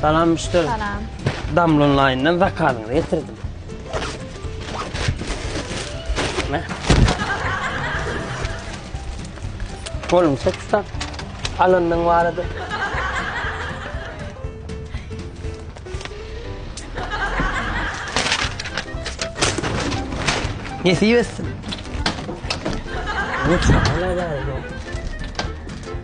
Salam müşteri. Salam. Damla online'dan zakazyňyzy getirdim. Ne? Kolum çek tutak. Alanyň barada. Nesip etsin. Lütfen.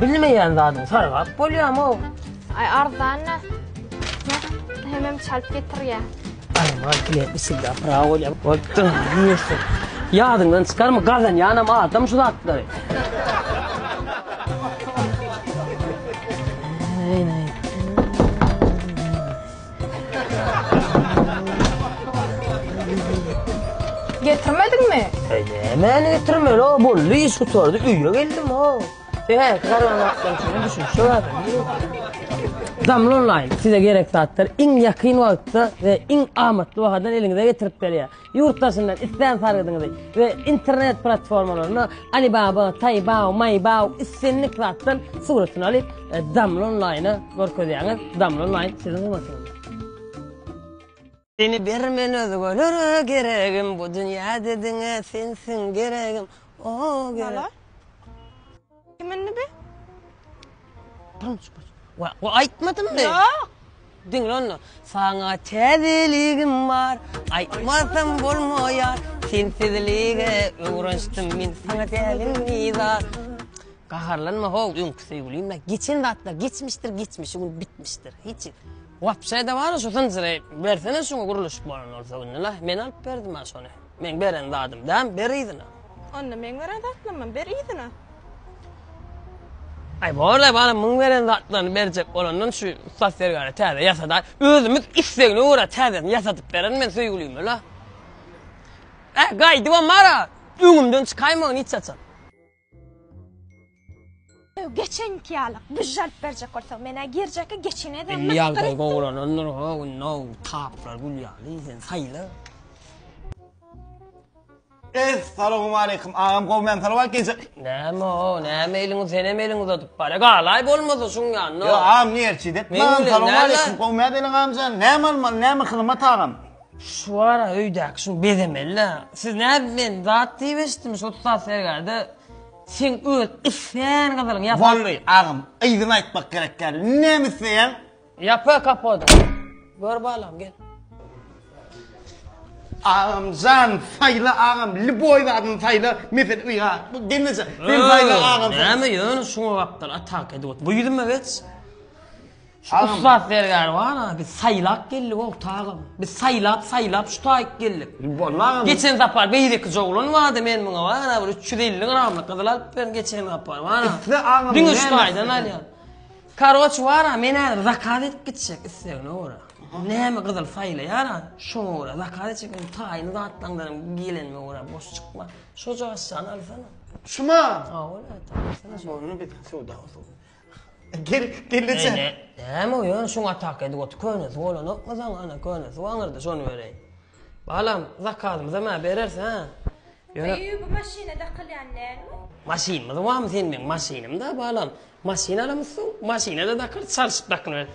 Bilmeýän zadyň sargap bolýamow. Aý arzan da. Heh hemem çalyp getirýä. Arman kile bismillah bravo le bolupdyr ýürşün. Ýadyňdan çykarma gazanýanam adam şu zatlary. Getirmediňmi? Eý, nämäni getirmeli, o boldy, iş gutardy, öýe geldim, o. Ehe, garaň atdan şuna düşünişe bardy. Damla onlaýn size gerek zatlar iň ýakyn wagtda we iň amatly bahadan eliňize getirip berýär. Ýurt daşyndan islän sargydyňyzy we internet platformalarynda Alibaba, Taibao, Maibao islendik zatdan suratyny alyp, Damla Online-a görkezýäňiz, Damla Online siziň hyzmatyňyzda. Seni bir men özgelere geregim, bu dünýäde diňe sensiň geregim, o gerek. Kim indi bi? Durmuş baş. Wa, wa aýtmadym men. Ýok. Diňle onda. Saňa täzeligim bar, aýtmasam bolmaýar. Sensizlige öwrenşdim men, saňa dälim bizar. Gaharlanma how, öňki söýgülim-ä. Geçen zatlar geçmişdir, geçmişi gün bitmişdir. Hiç. Wapşe-de bar-a şu zynjyry. Bersene şuňa gurluşyk bolan bolsa indi-le. Men alyp berdim-ä şony. Meň beren zadym dämi, ber yzyna. Onda meň beren zatlamam, ber yzyna. Aý bor-da balam, muň beren zatlaryny berjek bolandan şu ussat zergäre täze ýasa-da, özümiz islegine görä täzesini ýasadyp beren men söýgülime-le. Hä, gaýdybam bar-a, öňümden çykaýmagyn hiç haçan. Geçenki ýaly güjje alyp berjek bolsa menä girjekki geçine de Indi ýagdaý gowulanandyr ha window taplar gül ýaly sen saýla. Ess salowmaleýkim agam gowy men salawat gije. Näme o näme eliňi senem eliň uzadyp bare galaý bolmasa şuň ýanyna. Ýo agam niýerçi dep. Meň salowmaleýkim gowy mä beleň agamjan näme almaly näme hyzmat agam. Şu ara öýdäki şuny bezemeli-le. Siz nädip men zat diýip eşitdim şu ussat sergerde. Sen öz islän gyzylyň ýapar. Bolly, agam, yzyny aýtmak gerek däl. Näme isleýäň? Ýapa kapody. Gör balam, gel. Agam jan, saýla agam, liboý zadyny saýla, mesele ýa, bu gelneje. Sen saýla agam. Näme ýöne şuňa gapdal atak edip otur. Bu ýüzüme geç. Şu ussat zergär bar-a, biz saýlap geldik ogtagym. Biz saýlap, saýlap şu taýyk geldik. Gurbanly agam. Geçen sapar beýleki joglan bardy, men muňa bar-a bir üç ýüz elli gramlyk gyzyl alyp berin geçen sapar bar-a. Isle agam. Diňe şu taýdan alýan. Karoç bar-a, men häzir zakaz edip gitjek islegine görä. Näme gyzyl saýlaýar-a, şoňa görä zakaz etjek men taýyny zatlaňdanam gelenime görä boş çykma. Şojagazçany alsana. Şuma? Hawa, ata, alsana şony. Ony biz söwda goşup. Gel, gelneje. Eý, näme bu, ýöne şuň atak edip otur, könesi bolanokmy saňa, ana, könesi waňyrdy, şony bereýin. Balam, zakazymyzam, hä, bereris, hä? Ýöne. Eý, bu maşyna dakylýan dälmi? Maşynymyz barmy seň meň maşynym-da, balam. Maşyn alamyzsoň, maşyna-da dakarys, çalşyp dakylybereris.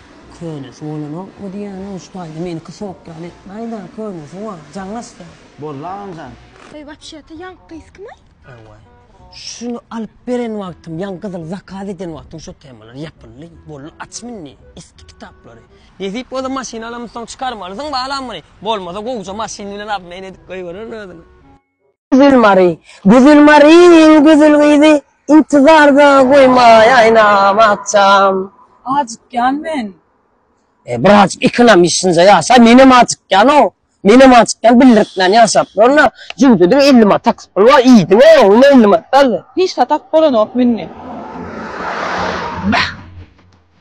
Könesi bolanok bu diýýäniň üç taýda meniki sok ýaly etmäýdä könesi bar jaňlaşda. Boldy agamjan. Eý wapşeto ýaňky gyz kimay? Ewaý. Şuny alyp beren wagtym ýaňky gyzyň zakaz eden wagtym şu temalar ýapyldy. Boldy açmy indi eski kitaplary. Nesip bolsa maşyn alamyzsoň çykarmalysyň balam muny. Bolmasa gowja maşyn bilen obmen edip goýbererin özüni. Güzel Mary, güzel Maryň gözel gyzy, intizarda goýmaý aýnam akşam. Ajykýan men. E, bir ajyk ikinam işinje ýaşa, menem ajykýan-ow. Menem ajykýan, bildirtmän ýaşap durun-a. Jübüdediň elli manat taksi puly bar, iýdiň-ow, ýöne elli manat galdy. Hiç zat alyp bolanok münni. Bäh!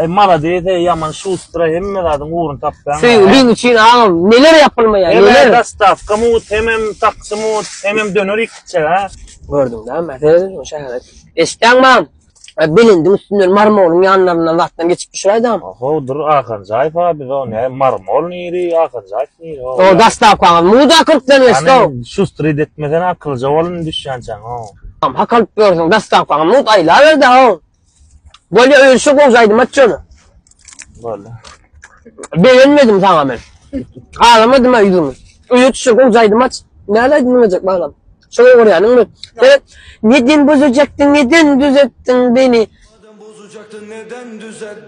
Eý malades eý ýaman şustra hemme zadyň ugruny tapýaň. Söýgiň üçin agam neler ýapylmaýar neler. Hemem dostawka mut hemem taksi mut hemem döner iki içjek a. Gördüň dä Mercedes şu şäheri. Eşitýäňmi agam? Belendiň üstünden marmolyň ýanlaryndan zatdan geçip düşüräýdi agam. Oho dur Akanjaýew a biz o ne marmol niri Akanjaýew niri o. O dostawkaňyz mut a kyrkdan geçdi o. Şustryt etmesene akylja bol indi düşýänçäň o. Agam hakalyp ýörsüň dostawkaňy mut aýlaberdi a o. Bolýa öýlşe gowjaýdym at şony. Bolýa. Begenmedim saňa men. Galamadym ha ýüzüňi. Öýe düşe gowjaýdym at. Näle aýdym diňlejek balam. Şoňa görä ýanyň bir. Sen neden bozajakdyň, neden düzetdiň beni? Neden bozajakdyň, neden düzetdiň?